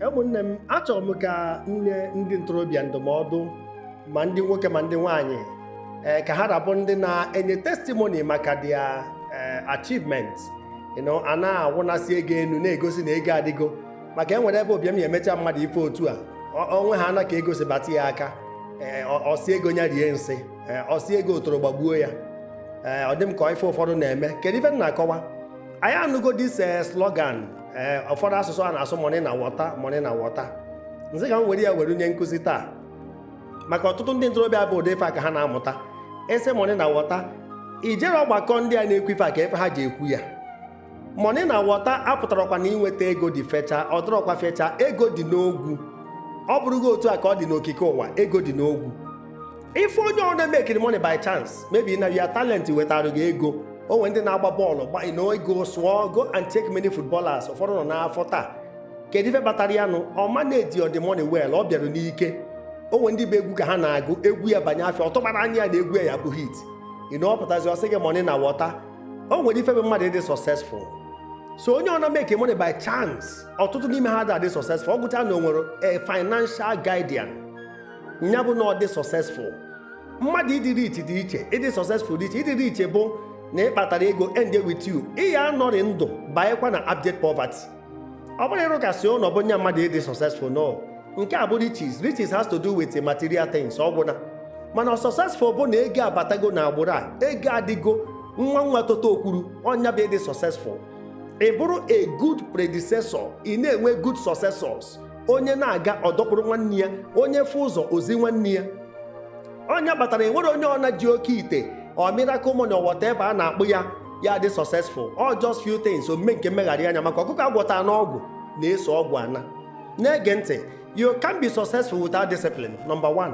ụmụnne m achọrọ m ka m nye ndị ntorobịa ndụmọdụ ma ndị nwoke ma ndị nwanyị ee ka ha rapụ ndị na-enye testimony maka their ee achievement you know, a na-awụnasị ego enu na-egosi na ego adịgo maka e nwere ebe ụbịam ya emecha mmadụ ife otu a ọ- o nwe haana ka ego si bata ya aka ee ọ- ọ sị ego ya rie nsị ee ọ sị ego otoro gbagbuo ya ee ọ dị m ka ife ụfọdụ na-eme kedu ife m na-akọwa anyị anụgo this eh, slogan ee ụfọdụ asụsụ a na-asụ money na water money na water nzi ka m were ya were nye nkụzi taa maka ọtụtụ ndị ntorobịa bụ ụdị ife a ka ha na-amụta a sị money na water i jere ọgbakọ ndị a na-ekwu ife a ka ife ha ji ekwu ya money na water apụtarọkwa na inweta ego dị fecha ọ dịrọkwa fecha ego dị n'ogwu ọ bụrụgo otu a ka ọ dị n'okike ụwa ego dị n'ogwu ife onye ọna makere money by chance maybe na ya talent wetara gị ego o nwere ndị na-agba bọọlụ gbanye na ego sụọ go and check many footballers ụfọdụ nọ n'afọ taa kedu ife kpatara ya na ọ managerọ the money well ọ bịara n'ike o nwere ndị bụ egwu ka ha na-agụ egwu ya banye afịa ọ tụkwarọ anya ya na egwu ya ya-abụ hit you know ọ pụtazi ọ sị gị money na water o nwere ife bụ mmadụ ịdị successful so onye ọna makere money by chance ọtụtụ n'ime ha ada adị successful ọ gwụcha na o nwere a financial guardian nya bụ na ọ dị successful mmadụ ịdị rich dị iche ịdị successful dị iche ịdị rich bụ na ị kpatara ego end with you ị ya-anọrị ndụ banyekwa na abject poverty ọ bụrọ ịrụkasị ụnọ bụ nya mmadụ ịdị successful no nke a bụ riches riches has to do with material things ọ gwụna mana successful bụ na ego abatago na agbụrụ a ego adịgo nwa nwa tota okwuru ọ nya bụ ịdị successful ị bụrụ a good predecessor ị na-enwe good successors onye na-aga ọ dọkpụrụ nwanne ya onye fụ ụzọ o zi nwanne ya ọ nya kpatara e nwerọ onye ọna ji oke ite or miracle money or whatever a na-akpọ ya ya-adị successful ọ just few things omume nke mmegharị anya maka ọkụkọ a gwọta n'ọgwụ na-eso ọgwụ ana na-ege ntị you can't be successful without discipline number one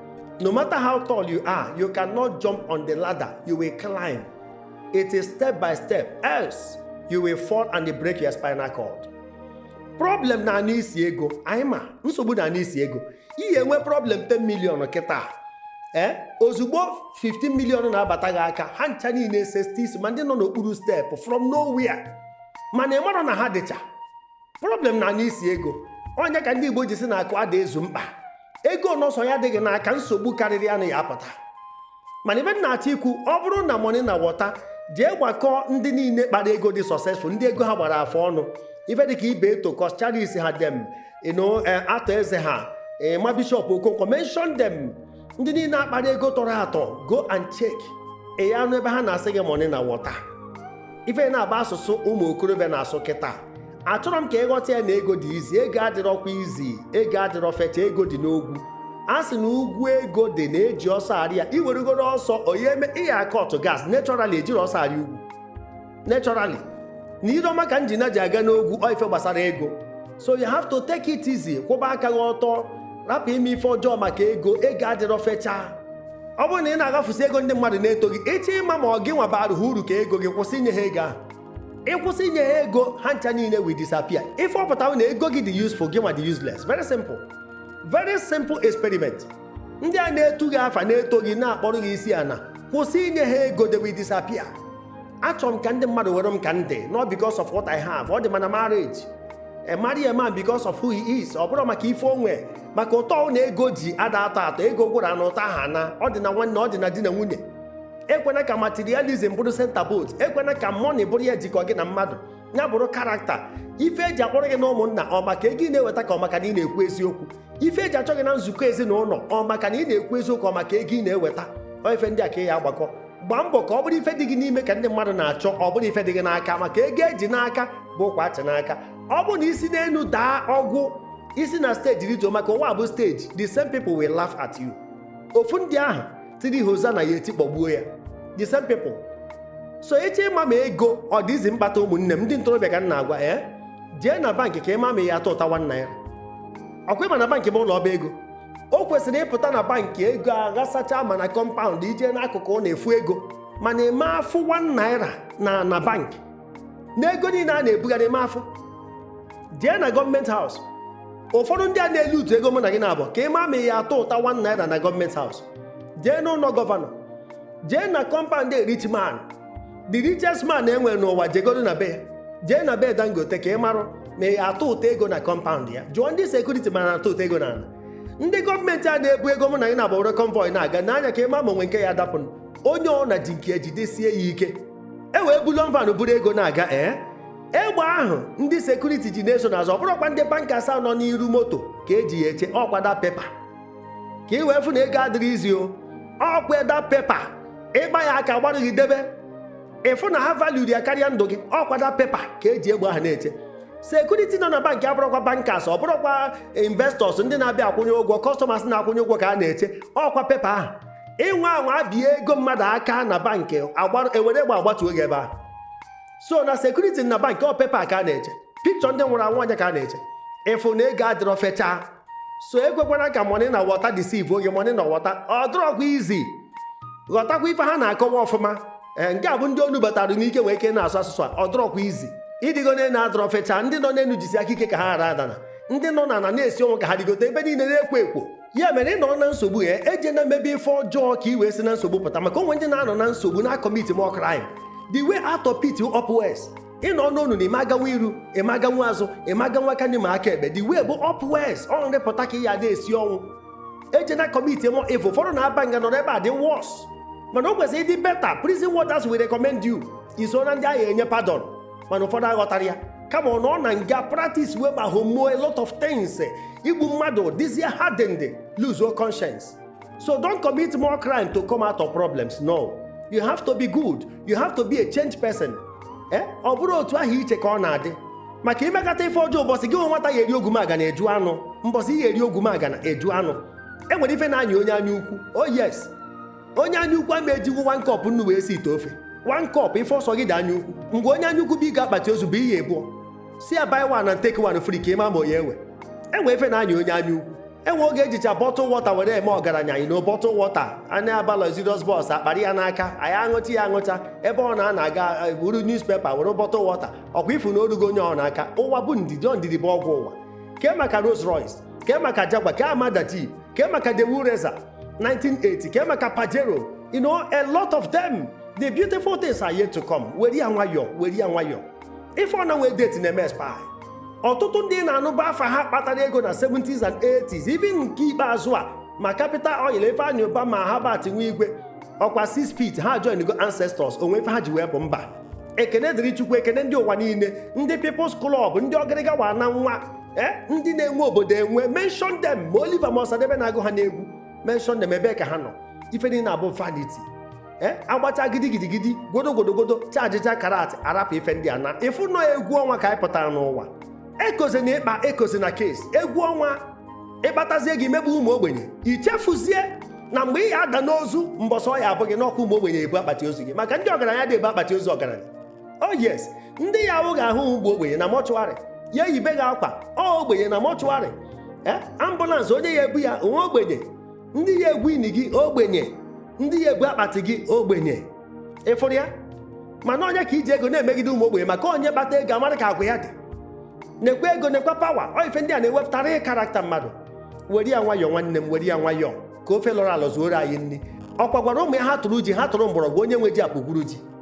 No matter how tall you are, you cannot jump on the ladder, you will climb. It is step by step, else you will fall and break your spinal cord. Problem na-anụ isi ego, I mean nsogbu na-anụ isi ego. Ị ya-enwe problem 10 million kịta. Ee, eh? ozugbo 15 million na-abata gị aka, ha ncha niile esesite isi ma ndị nọ n'okpuru step from nowhere. Mana ị marọ na ha dịcha. problem na-anụ isi ego ọ nya ka ndị igbo ji sị na akụ ada ezu mkpa ego ọ sọ ya dị gị n'aka nsogbu karịrị anụ ya-apụta mana ife m na-achọ ikwu ọ bụrụ na money na water jee gbakọọ ndị niile kpara ego dị successful ndị ego ha gbara afọ ọnụ ife dịka Ibeto Coscharis ha dem you know eh, Arthur Eze ha eh, ma Bishop Okonkwo mention them ndị niile akpara ego tọrọ atọ go and check ị ya anụ ebe ha na-asị gị money na water ife na-agba asụsụ ụmụ okorobịa na-asụ kịta achọrọ m ka ịghọta ya na ego dị easy ego adịrọkwa easy ego adịrọ fecha ego dị n'ogwu a sị na ugwu ego dị na eji ọsọ arị ya iwerugoro ọsọ onye me ị ya akọtụ gas naturally ejirọ ọsọ arị ugwu naturally na ire ọma ka njina ji aga n'ogwu ọ ife gbasara ego so you have to take it easy kwụba aka gị ọtọ rapụ ime ife ọjọọ maka ego ego adịrọ fechaa ọ bụrụ na ị na-agafusi ego ndị mmadụ na-eto gị ị chọ ịma ma ọ gị nwa baara ha uru ka ego gị kwụsị inye ha ego ahụ ị kwụsị inye ha ego ha ncha niile will disappear ife ọ pụtara na ego gị dị useful gị nwa dị useless very simple very simple experiment ndị a na-etu gị afa na-eto gị na-akpọrọ gị isi ana kwụsị inye ha ego they will disappear achọrọ m ka ndị mmadụ were m ka m dị not because of what I have ọ dị ma na marriage marry a man because of who he is ọ bụrọ maka ife o nwe maka ụtọ na ego ji ada atọ atọ ego gwụrụ na ụtọ aha ana ọ dị na nwanne ọ dị na di na nwunye ekwena ka materialism bụrụ center bolt ekwena ka money bụrụ ya jikọ gị na mmadụ ya bụrụ character ife eji akpọrọ gị na ụmụnna ọ maka ego ị na-eweta ka ọ maka na ị na-ekwu eziokwu ife eji achọ gị na nzukọ ezinụlọ ọ maka na ị na-ekwu eziokwu ọ maka ego ị na-eweta ọ ife ndị a ka ị ya agbakọ gbaa mbọ ka ọ bụrụ ife dị gị n'ime ka ndị mmadụ na-achọ ọ bụrọ ife dị gị n'aka maka ego eji n'aka bụ ụkwa achị n'aka ọ bụrụ na i si n'elu daa ọ gwụ i si na steji rituo maka ụwa bụ steji the same people will laugh at you ofu ndị ahụ tiri hozana ya eti kpọgbuo ya the same people so ị chọ ịma ma ego ọ dị easy mkpata ụmụnne m ndị ntorobịa ka m na-agwa eh? jee na bankị ka ị ma ma ị ya atụụta 1 naira ọkwa ịma na bankị bụ ụlọ ọba ego o kwesịrị ịpụta na bankị ego aghasacha ma na kọmpaụnd i je n'akụkụ ị na-afụ ego mana ị ma afụ 1 naira na na bankị na ego niile a na-ebugharị ị ma afụ jee na gọọmenti haus ụfọdụ ndị a na-elootu ego mụ na gị naabọ ka ị ma ma ị ya atụụta 1 naira na gọọmenti haus jee n'ụlọ gọvanọ jee na kọmpaụnd rich man the richest man enwere n'ụwa jegodo na be ya jee na be dangote ka ị marụ ma ị ya atụụta ego na kọmpaụnd ya jụọ ndị security ma a na-atụụta ego n'ala ndị gọọmenti a na-ebu ego mụ na gị naabọ were convoy na-aga nee anya ka ị ma ma o nwe nke ya dapụ onye ọ na ji nke ya jidesie ya ike e wee bullion van buru ego na-aga ee egbe ahụ ndị security ji na-eso n'azụ ọ bụrọkwa ndị bankers nọ n'iru moto ka eji ya eche ọkwa that paper ka ị wee fụ na ego adịrọ easy o ọkwa that paper ị kpa ya aka agbarụ gị debe ị fụ na ha valuru ya karịa ndụ gị ọkwa that paper ka eji egbe ahụ na-eche security nọ na bankị abụrọkwa bankers ọ bụrọkwa investors ndị na-abịa akwụnye ụgwọ customers na-akwụnye ụgwọ ka a na-eche ọkwa paper ahụ ị nwa anwa bie ego mmadụ aka na bankị ewere egbe agbatuo gị ebe ahụ so na sekuriti na bank ọ pepa ka a na-eche pikchọ ndị nwụrụ anwụ anya ka a na-eche ị fụ na ego adịrọ fechaa so ekwekwana ka mọni na wọta disivuo gị mọni na wọta ọ dịrọkwa izi ghọtakwa ife ha na-akọwa ọfụma ee eh, nke a bụ ndị o nubatara n'ike were ike na-asụ asụsụ a ọ dịrọkwa izi ịrịgo n'enu adịrọ fechaa ndị nọ n'enu jisi aka ike ka ha ghara adana ndị nọ n'ana na-esi ọnwụ ka ha rịgote ebe niile na-ekwo ekwo ya mere ị nọrọ na nsogbu ejena mebe ife ọjọọ ka i wee si na nsogbu pụta maka o nwe ndị na-anọ na nsogbu na-akọmiti more crime the way out of pit upwards ị nọ n'ọnụ na ị ma aganwu iru ị ma aganwu azụ ị ma aganwu aka nni ma aka ekpe the way bụ upwards ọ nrịpụta ka ị ya na-esi ọnwụ ejena kọmiti more evil ụfọdụ na-aba nga nọrọ ebe a dị wọs mana o kwesịrị ịdị beta prison warders will recommend you i so na ndị a ya-enye pardon mana ụfọdụ aghọtara ya kama ọ nọ na nga practice wee ma homo a lot of things igbu mmadụ dịzie hardened lose your conscience so don't commit more crime to come out of problems no you have to be good you have to be a change person eh? ọ bụrọ otu ahụ i che ka ọ na-adị maka i mekata ife ọjọọ ụbọchị gị nwata ya-eri ogwumagana ị jụ anụ mbọsị ị ya-eri ogwumagana ị jụ anụ e nwere ife na-anyị onye anya ukwu oh yes onye anya ukwu ama ejiwu one cup nnu wee sie ite ofe one cup ife ọ sọ gị dị anya ukwu mgbe onye anya ukwu buga akpati ozu bunye abụọ sị ya buy one and take one free ka ị ma ma ọ ya-ewe e nwe ife na-anyị onye anya ukwu e nwe oge e jicha bọtụl wọta were eme ọgaranya anyị na bọtụl wọta anyị aba luxurious bus akpara ya n'aka anyị aṅụcha ya aṅụcha ebe ọ na-ana aga eh, buru newspaper were bọtụl wọta ọkwa ị fụ na o rugo onye ọbụna aka ụwa bụ ndidi ọ ndidi bụ ọgwụ ụwa kee maka Rolls Royce kee maka Jaguar kee Armada Jeep kee maka Daewoo Racer 1980 kee maka Pajero you know a lot of them the beautiful things are yet to come were ya nwayọ were ya nwayọ ife ọbụna nwee date na-eme expire ọtụtụ ndị ị na-anụbu afa ha kpatara ego na 70s and 80s even nke ikpeazụ a ma Capital Oil Ifeanyi Ubah ma Herbert Wigwe ọkwa 6 feet ha joingo ancestors o nwe ife ha ji wee pụ mba ekene dịrị chukwu ekene ndị ụwa niile ndị people's club ndị ọgịrịga wa na nwa eh, ndị na-enwe obodo enwe mention them ma Oliver ma Ọsadebe na-agụ ha n'egwu mention them ebe ka ha nọ ife niile abụ vanity eh, agbacha gidigidigidi godogodogodo chajicha karat arapụ ife ndị a naa ị fụ na ọ egwu ọnwa ka anyị pụtara n'ụwa ekozina ikpe ekozina kes egwu ọnwa ị kpatazie gị megbu ụmụ ogbenye i chefuzie na mgbe ị ya-ada n'ozu mbọsị ọ ya-abụ gị na ọ bụ ụmụ ogbenye ya-ebu akpati ozu gị maka ndị ọgaranya adị ebu akpati ozu ọgaranya oh yes ndị ya-awụ gị ahụ bụ ogbenye na mọchụarị ya-eyibe gị akwa ọ ogbenye na mọchụarị eh, ambụlansị onye ya-ebu ya ọ nwa ogbenye ndị ya-egwu ini gị ogbenye ndị ya-ebu akpati gị ogbenye ị fụrụ ya mana onye ka i ji ego na-emegide ụmụ ogbenye maka onye kpata ego amara ka agwa ya dị nekwa ego nekwa pawa ọ ife ndị a na-ewepụta real karakta mmadụ were ya nwayọọ nwanne m were ya nwayọọ ka ofe lọrọ alọ zuoro anyị nri ọkwa gwara ụmụ ya ha tụrụ ji ha tụrụ mgbọrọgwụ onye nwe ji akpụgwuru ji